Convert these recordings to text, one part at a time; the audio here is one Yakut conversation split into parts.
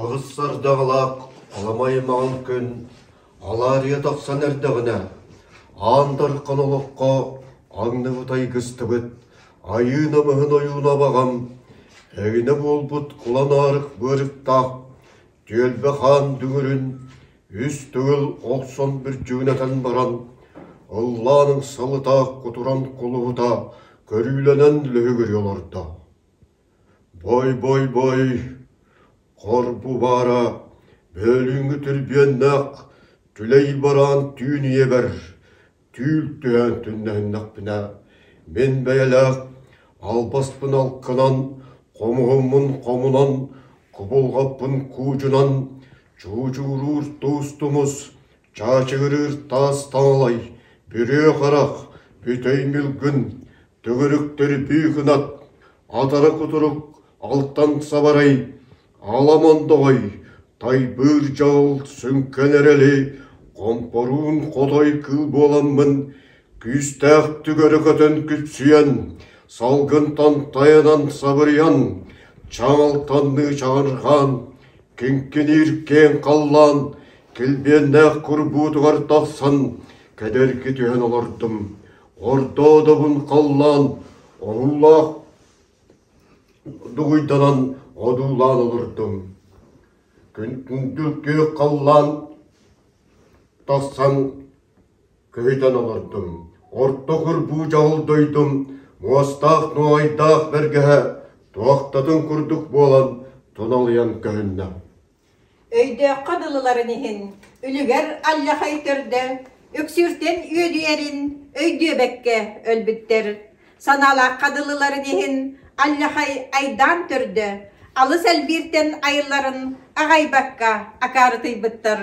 Аҕыс ардаҕалаах халыма аймаҕын күн халаарыйа тахсан эрдэҕинэ, аан дархан олоххо аҥныбыт айгыстыбыт айыы намыһын ойууна баҕам, эҥинэ буолбут кулан аарык быарыктаах түөлбэ хаан дүҥүрүн үс төгүл олсон бүрдьүгүнэтэн баран, ыллааныҥ салытаах кутуран кулуһута көрүүлэнэн лөһүгүрүйэ олордо Бой-бой-бой, хор бубаара бөөлүҥҥү түрбүөннээх түлэй бараан түүн ийэбэр түүл түһээн түннэһиннэхпинэ, мин бэйэлээх албаспын алкынан, хомуһуммун хомунан, кубулҕаппын куучунан чуучууруур туус-тумус Чаачыгырыыр таас таҥалай, бүрүө харах, бүтэй ньылгын, төгүрүктэр бүү кынат, атара кутурук, алтан сабарай, ала мондоҕой, тайбыыр дьал, сүҥкэн эрэли, хомпоруун хотой кыыл буоламмын, күүстээх түгэрэ көтөн күпсүйэн, салгын тантайынан сабырыйан, чаҥалтанныы чаҕырҕаан, Киҥкиниир киэҥ халлаан килбиэннээх курбуутугар тахсан кэдэрги түһэн олордум, хордоодобун халлаан оһуулаах дугуйданан одуулаан олордум. Күндүл күөх халлаан тахсан Көтөн олордум, орто курбуу дьаһал дойдум муостаах нуоҕайдаах бэргэһэ туохтатын курдук буолан туналыйан көһүннэ Өйдөөххө дылыларын иһин, үлүгэр алдьахай төрдө үксүүртэн үөдүйэрин өйдүөбэккэ өлбүттэр. Санаалаахха дылыларын иһин, алдьахай айдаан төрдө алыс элбииртэн айылларын аҕайбакка акаарытыйбыттар.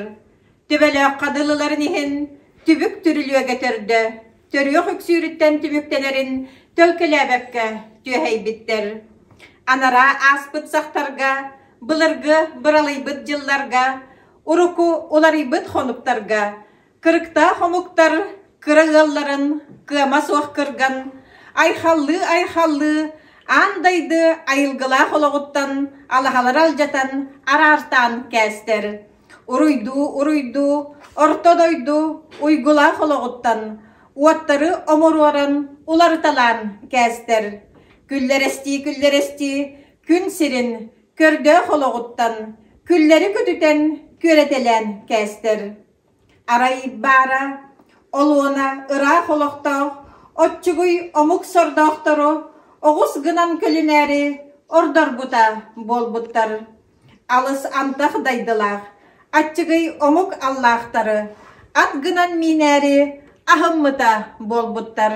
Төбөлөөххө дылыларын иһин, түбүк түрүлүөгэ төрдө, төрүөх үксүүрүттэн түмүктэнэрин төлкөлөөбөккө түөһэйбиттэр. Анараа ааспыт сахтарга, былыргы быралыйбыт дьылларга, урукку уларыйбыт хонуктарга кырыктаах омуктар кыра ыалларын кыама суох кырган, айхаллыы-айхаллыы аан дайды айылгылаах олоҕуттан алаһалары алдьатан араартаан кээстэр. Уруйдуу, уруйдуу, орто дойду уйгулаах олоҕуттан уоттары омуруоран уларыталаан кээстэр, күллэрэстии-күллэрэстии күн сирин көрдөөх олоҕуттан күллэри көтүтэн күөрэтэлээн кээстэр. Арай баара, олуона ыраах олохтоох оччугуй омук сордоохтору оҕус гынан көлүнээри ордорбута буолбуттар. Алыс ардах дайдылаах, аччыгый омук аллаахтары ат гынан миинээри аһыммыта буолбуттар.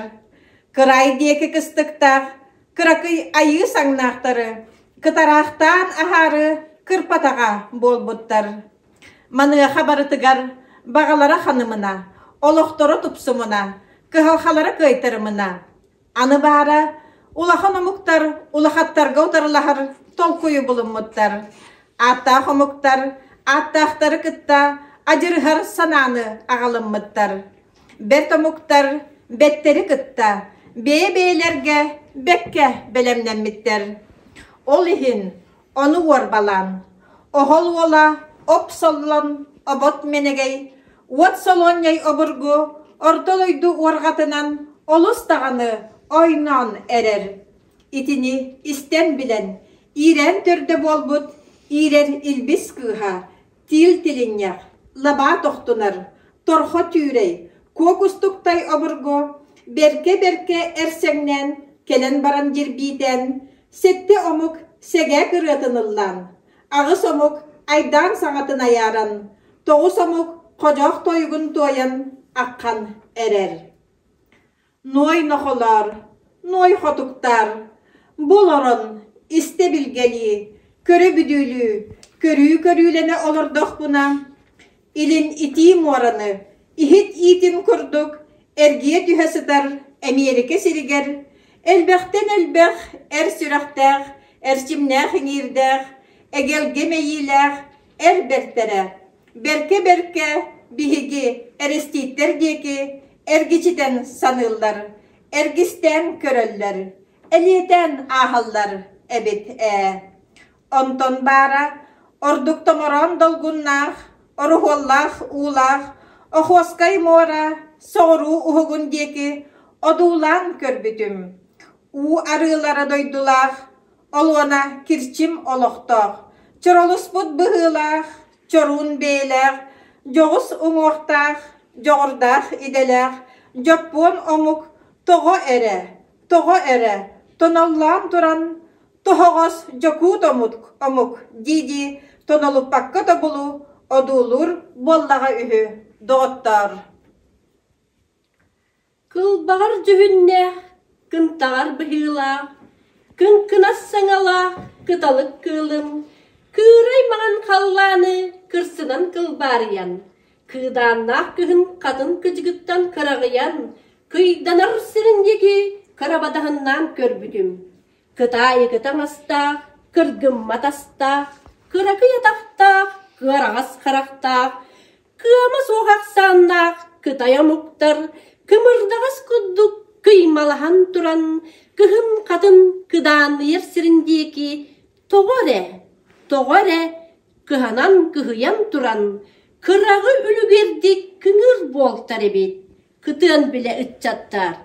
Кыраай диэки кыстыктаах, кыракый айыы саҥнаахтары кытараахтаан аһаары кырпатаҕа буолбуттар. Маныаха барытыгар баҕалара ханымына, олохторо тупсумуна, кыһалхалара кыайтарымына, Аны баара, улахан омуктар улахаттарга утарылаһар толкуйу булуммуттар. Ааттаах омуктар ааттаахтары кытта адьырыһар санааны аҕалыммыттар. Бэрт омуктар бэттэри кытта бэйэ-бэйэлэргэ бэккэ бэлэмнэммиттэр. Ол иһин Ону уорбалаан, оһол уола оп соллон обот мэнэгэй, уот солуонньай обургу орто дойду уорҕатынан олус даҕаны ойноон эрэр. Итини истэн билэн, иирээн төрдө буолбут иирэр илбис кыыһа Тиил тилинньэх, лабаа тохтунар, торхо түүрэй, куокустуктай обургу бэркэ-бэркэ эрсэҥнээн кэлэн баран дьирбиитээн, сэттэ омук сэгээх ырыатын ыллаан, аҕыс омук айдаан саҥатын айааран, тоҕус омук ходьоох тойугун туойан акхан эрэр. Нуой-нохолоор, нуой-хотуктаар, бу олорон, истэ-билгэлии, көрө-бүдүүлүү, көрүү-көрүүлэнэ олордохпуна, илин итии муораны, иһит иитин курдук, эргийэ түһэ сытар Эмиэрикэ сиригэр элбэхтэн элбэх эр сүрэхтээх, эрчимнээх иҥиирдээх, эгэлгэ мэйиилээх, эр бэртэрэ, бэркэ-бэркэ биһиги эрэстииттэр диэки эргичитэн саныыллар, эргистээн көрөллөр, элиэтээн ааһаллар эбит ээ. Онтон баара ордук томороон долгуннаах, оруһуоллаах уулаах Охуоскай муора соҕуруу уһугун диэки одуулаан көрбүтүм. Уу арыылара дойдулаах Олуона Кирчим олохтоох, чоролуспут быһыылаах, чоруун бэйэлээх, дьоҕус уҥуохтаах, дьоҕурдаах идэлээх, дьоппуон омук тоҕо эрэ, тоҕо эрэ тоноллоон туран тоһоҕос дьокуут омук омук дии-дии тонолуппакка тобулу одуулуур буоллаҕа үһү доҕоттоор. Кылбаҕар дьүһүннээх, кынтаҕар быһыылаах, кыҥкынас саҥалаах кыталык кыылын кыырай маҥан халлааны кырсынан кылбаарыйан, кыыдааннаах кыһын хатын кыдьыгыттан кыраҕыйан, кыйданар сирин диэки кырабадаһыннаан көрбүтүм: кытаайыгы таҥастаах, кыргыммат астаах, кыракый атахтаах, кыараҕас харахтаах, Кыама суох ахсааннаах кытай омуктар кымырдаҕас курдук кыймалаһан туран кыһын-хатын кыдааныйар сирин диэки тоҕо эрэ, тоҕо эрэ кыһанан-кыһыйан туран кыраҕы үлүгэрдик кыҥыыр буолтар эбит, кытыан билэ ыччаттаар.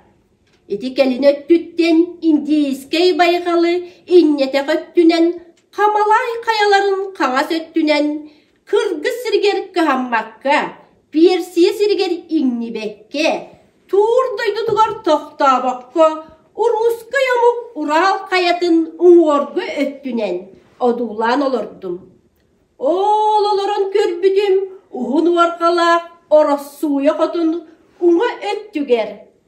Ити кэлин өттүттэн индийскэй байҕалы инньэтэх өттүнэн Хамалаай хайаларын хаҥас өттүнэн Кыргыс сиригэр кыһаммакка, Персия сиригэр иҥнибэккэ, туур дойдутугар тохтообокко, уруускай омук Урал хайатын уҥуоргу өттүнэн одуулаан олордум. Ол олорон көрбүтүм уһун уорҕалаах Ороссууйа хотун уҥа өттүгэр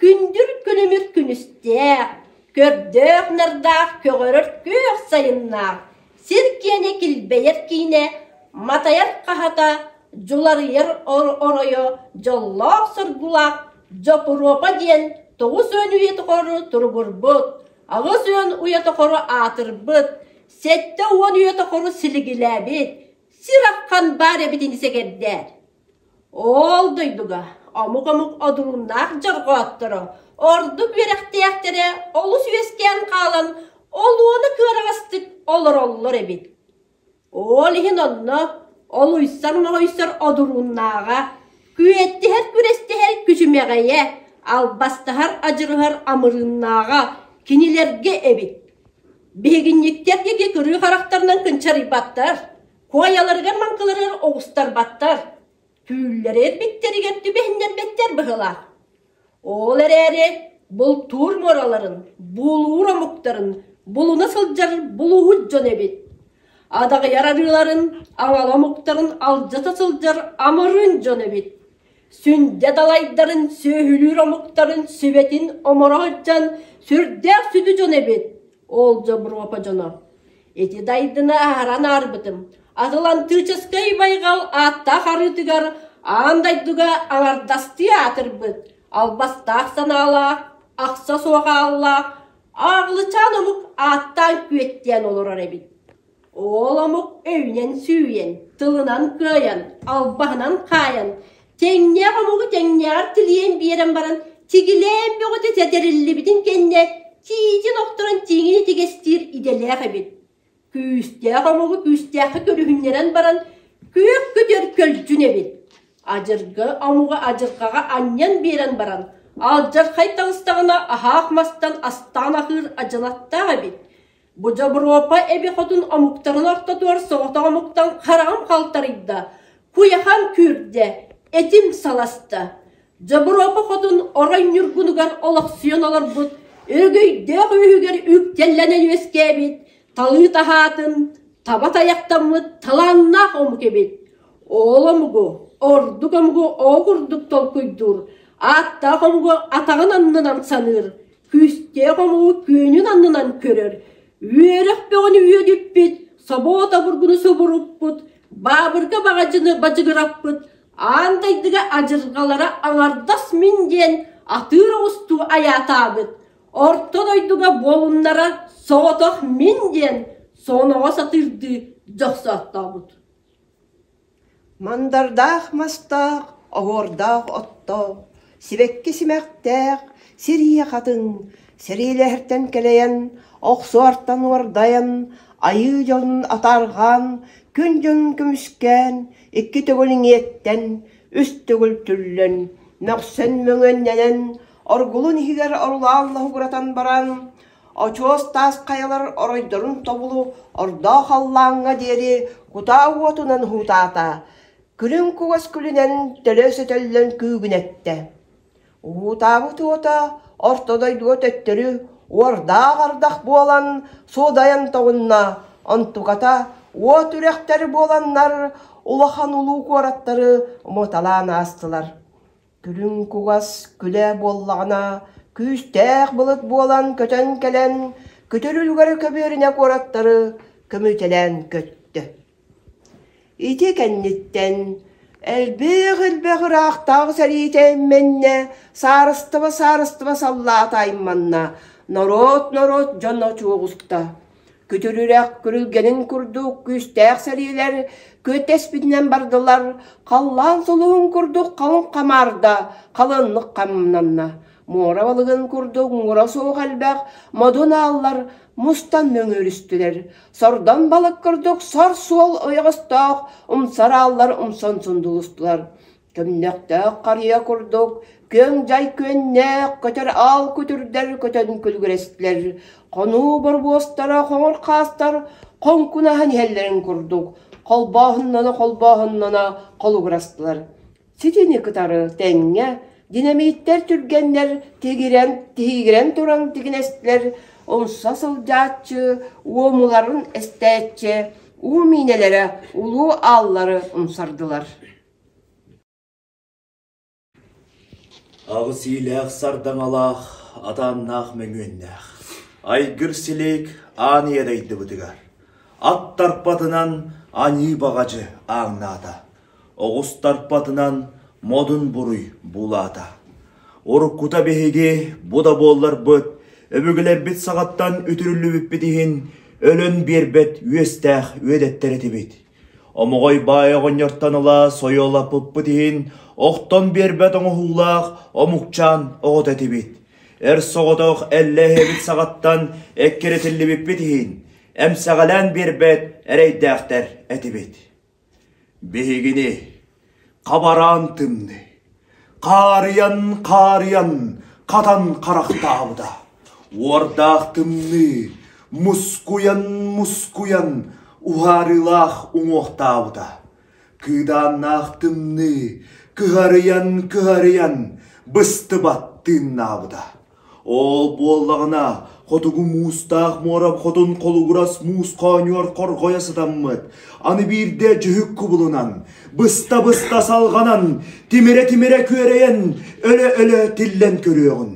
Күндүр күлүмүр күнүстээх, көрдөөх-нардаах көҕөрөр күөх сайыннаах, сир киэнэ килбэйэр киинэ, матайар хаһата, дьуларыйар оройо, дьоллоох-соргулаах Дьопуруопа диэн тоҕус уон үйэ тухары туругурбут, аҕыс уон уйа тухары аатырбыт, сэттэ уон үйэ тухары силигилээбит сир ахан баар эбитин сэгэрдээр Оол дойдуга омук-омук одуруннаах дьорҕоотторо ордук үөрэхтээхтэрэ олус үөскээн хаалан ол уола кыараҕастык олороллор эбит. Оол иһин онно ол уйсар-моһуйсар одуруннааҕа, күөттэһэр-күрэстэһэр күчүмэҕэйэ, албастаһар адьырыһар амырыыннааҕа кинилэргэ эбит. Биһигинньиктэр диэки кырыы харахтарынан кынчарыйбаттар Куойаларыгар маҥкыларыгар оҕустарбаттар, түүллэри эрбиттэригэр түбэһиннэрбэттэр быһыылаах. Ол эрээри бултуур муораларын, буулуур омуктарын булуна сылдьар булууһут дьон эбит. Адаҕыйар арыыларын, аҥала омуктарын алдьата сылдьар амырыын дьон эбит. Сүндэ далайдарын, сүөһүлүүр омуктарын сүбэтин оморо сылдьан сүрдээх сүдү дьон эбит. Ол Дьобуруопа дьоно, ити дайдыны аһаран аарбытым, Атлантическай байҕал ааттаах арыытыгар аан дойдуга аҥардастыы аатырбыт албастаах санаалаах, ахса суох ааллаах Ааҕылычаан омук ааттаан күөттээн олорор эбит Уол омук өйүнэн-сүүйэн, тылынан кыайан, албаһынан хаайан, тэҥнээх омугу тэҥнээҕэр тилийэн биэрэн баран, тигилээн бөҕөтө сэтэриллибитин кэннэ тиитин охторон тииҥин итигэстиир идэлээх эбит. Күүстээх омугу күүстээххэ көрүһүннэрэн баран, күөх көтөр көлдьүн эбит. Адьыргы омугу адьырҕаҕа анньан биэрэн баран, алдьархай таҕыстаҕына аһаах мастан астаан аһыыр адьылаттаах эбит. Бу дьобуруопа эби-хотун омуктарын ортотугар соҕотох омуктан хараҕым халтарыйда, куйахам күүрдэ, этим саласта. Дьобуруопа хотун орой ньургунугар олохсуйан олорбут өрөгөйдөөх үөһүгэр үктэллэнэ үөскээбит талыы таһаатын таба тайахтаммыт талааннаах омук эбит. Оол омугу, ордук омугу ол курдук толкуйдуур, ааттаах омугу атаҕын аннынан саныыр, Күүстээх омук күөнүн аннынан көрөр, үөрэх бөҕөнү үөдүппүт, собуот обургуну субуруппут, баабырга баҕадьыны бадьыгыраппыт, аан дойдуга адьырҕалара аҥардас мин диэн атыыр оҕустуу айаатаабыт, орто дойдуга буолуннара соҕотох мин диэн соноҕо сатыырдыы дьохсооттообут Мандардаах мастаах, оһуордаах оттоох, сибэкки симэхтээх, сирии хатыҥ, сэриилэһэртэн кэлэйэн, охсуортан уордайан, айыы дьонун атаарҕаан, күн дьонун көмүскээн, икки төгүл иҥиэттэн, үс төгүл түллэн, мөхсөн мөҥүөннэнэн, оргулун иһигэр орулаал лаһугуратан баран, Очуос таас хайалар оройдорун тобулу ордоо халлааҥҥа диэри кутаа уотунан уһуутаата, күлүҥ кугас күлүнэн төлө сөтөллөн күүгүнэттэ. Уһуутаабыт уота орто дойдуга төттөрү уордаах ардах буолан суодайан тоҕунна, онтуката уот үрэхтэр буоланнар улахан улуу куораттары уматалаан аастылар. Күлүҥ кугас күлэ буоллаҕына, күүстээх былыт буолан көтөн кэлэн, күтүр үлүгэрэ көбүөрүнэ куораттары көмүтэлээн көттө. Ити кэнниттэн элбэх элбэх ыраахтаах сэриитэ иммэннэ, саарыстыба-саарыстыба саллаата айманна, норуот норуот дьон очуоҕуста. Күтүрүрэх күрүлгэнин курдук күүстээх сэриилэр күөттэспитинэн бардылар, халлаан сулуһун курдук халыҥ хамаарда халыаннык хамнанна. Муора балыгын курдук муора суох элбэх модун ааллар мустан мөҥүөрүстүлэр. Сордон балык курдук сор суол ойоҕостоох умсар ааллар умсан сундулустулар. Түмнэхтээх харыйа курдук күөҥ-дьай күөннээх көтөр аал күтүрдэр көтөн күлүгүрэстилэр, хонуу борбуостара хоҥор хаастар хоҥкунаһан иһэллэрин курдук холбооһуннана-холбооһуннана холугурастылар. Ситини кытары тэҥҥэ динамиттэр түргэннэр тигирэн, тиһигирэн туран тигинэстилэр, умса сылдьааччы уомуларын эстээччи, уу миинэлэрэ, улуу ааллары умсардылар Аҕыс иилээх сардаҥалаах, атааннаах мөҥүөннээх, айгыр силиик аан ийэ дайдыбытыгар, ат тарпатынан аньыы баҕадьы ааҥнаата, оҕус тарпатынан модун буруй буулаата. Уруккута биһиги бу да буолларбыт, өбүгэлэрбит саҕаттан үтүрүллүбүппүт иһин өлөн биэрбэт үөстээх үөдэттэр этибит. Омоҕой баай оҕонньортон ыла сойуолаппыппыт иһин, охтон биэрбэт оҥоһуулаах омукчаан оҕото этибит. Эр соҕотох эллэ эһэбит саҕаттан эккирэтиллибиппит иһин, эмсэҕэлээн биэрбэт эрэйдээхтэр этибит. Биһигини Хабараан тымныы, хаарыйан хаарыйан хатан харахтаабыта. Уордаах тымныы мускуйан мускуйан уһаарыылаах уҥуохтаабыта. Кыыдааннаах тымныы кыһарыйан кыһарыйан быстыбат тыыннаабыта. Ол буоллаҕына, хотугу муустаах муорам хотун холугурас муус хоонньугар хорҕойо сытаммыт, аны биирдэ дьүһүк кубулунан, быста-быста салҕанан, тимирэ-тимирэ күөрэйэн, өлө-өлө тиллэн көрүөҕүн.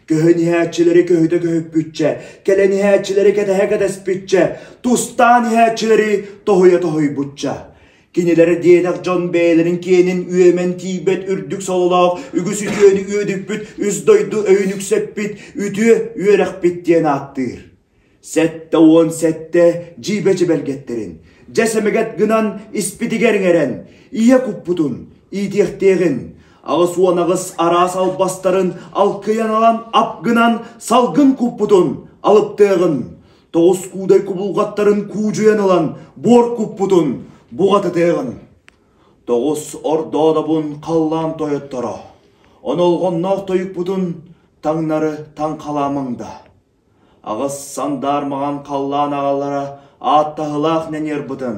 Көһөн иһээччилэри көһүтэ көһүппүччэ, кэлэн иһээччилэри кэтэһэ кэтэспиччэ, тустаан иһээччилэри тоһуйа тоһуйбучча. Кинилэр диэнэх дьон бэйэлэрин киэнин үөмэн тиийбэт үрдүк сололоох үгүс үтүөнү үөдүппүт үс дойду өйүн үксэппит үтүө үөрэхпит диэн ааттыыр. Сэттэ уон сэттэ дьиибэ дьэбэргэттэрин дьэ сэмэгэт гынан испитигэр иҥэрэн ийэ куппутун иитиэхтиэҕин аҕыс уон аҕыс араас албастарын алкыйан ылан ап гынан салгын куппутун алыптыаҕын тоҕус куудай кубулҕаттарын куудьуйан ылан буор куппутун буҕатытыаҕын тоҕус ордоодобун халлаан тойотторо онолҕонноох тойукпутун таҥнары таҥхалаамаҥда аҕыс сандаар маҕан халлаан аҕалара ааттаһылаах нэньиэрбытын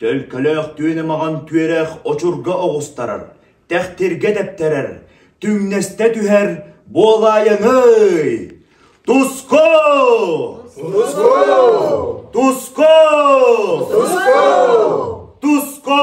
Төлкөлөөх түөнэ-маҕан күөрэх очурга оҕустарар, тэхтиргэ тэптэрэр, түҥнэстэ түһэр, буолаайаҥый! Туску! Туску! Туску! Туску!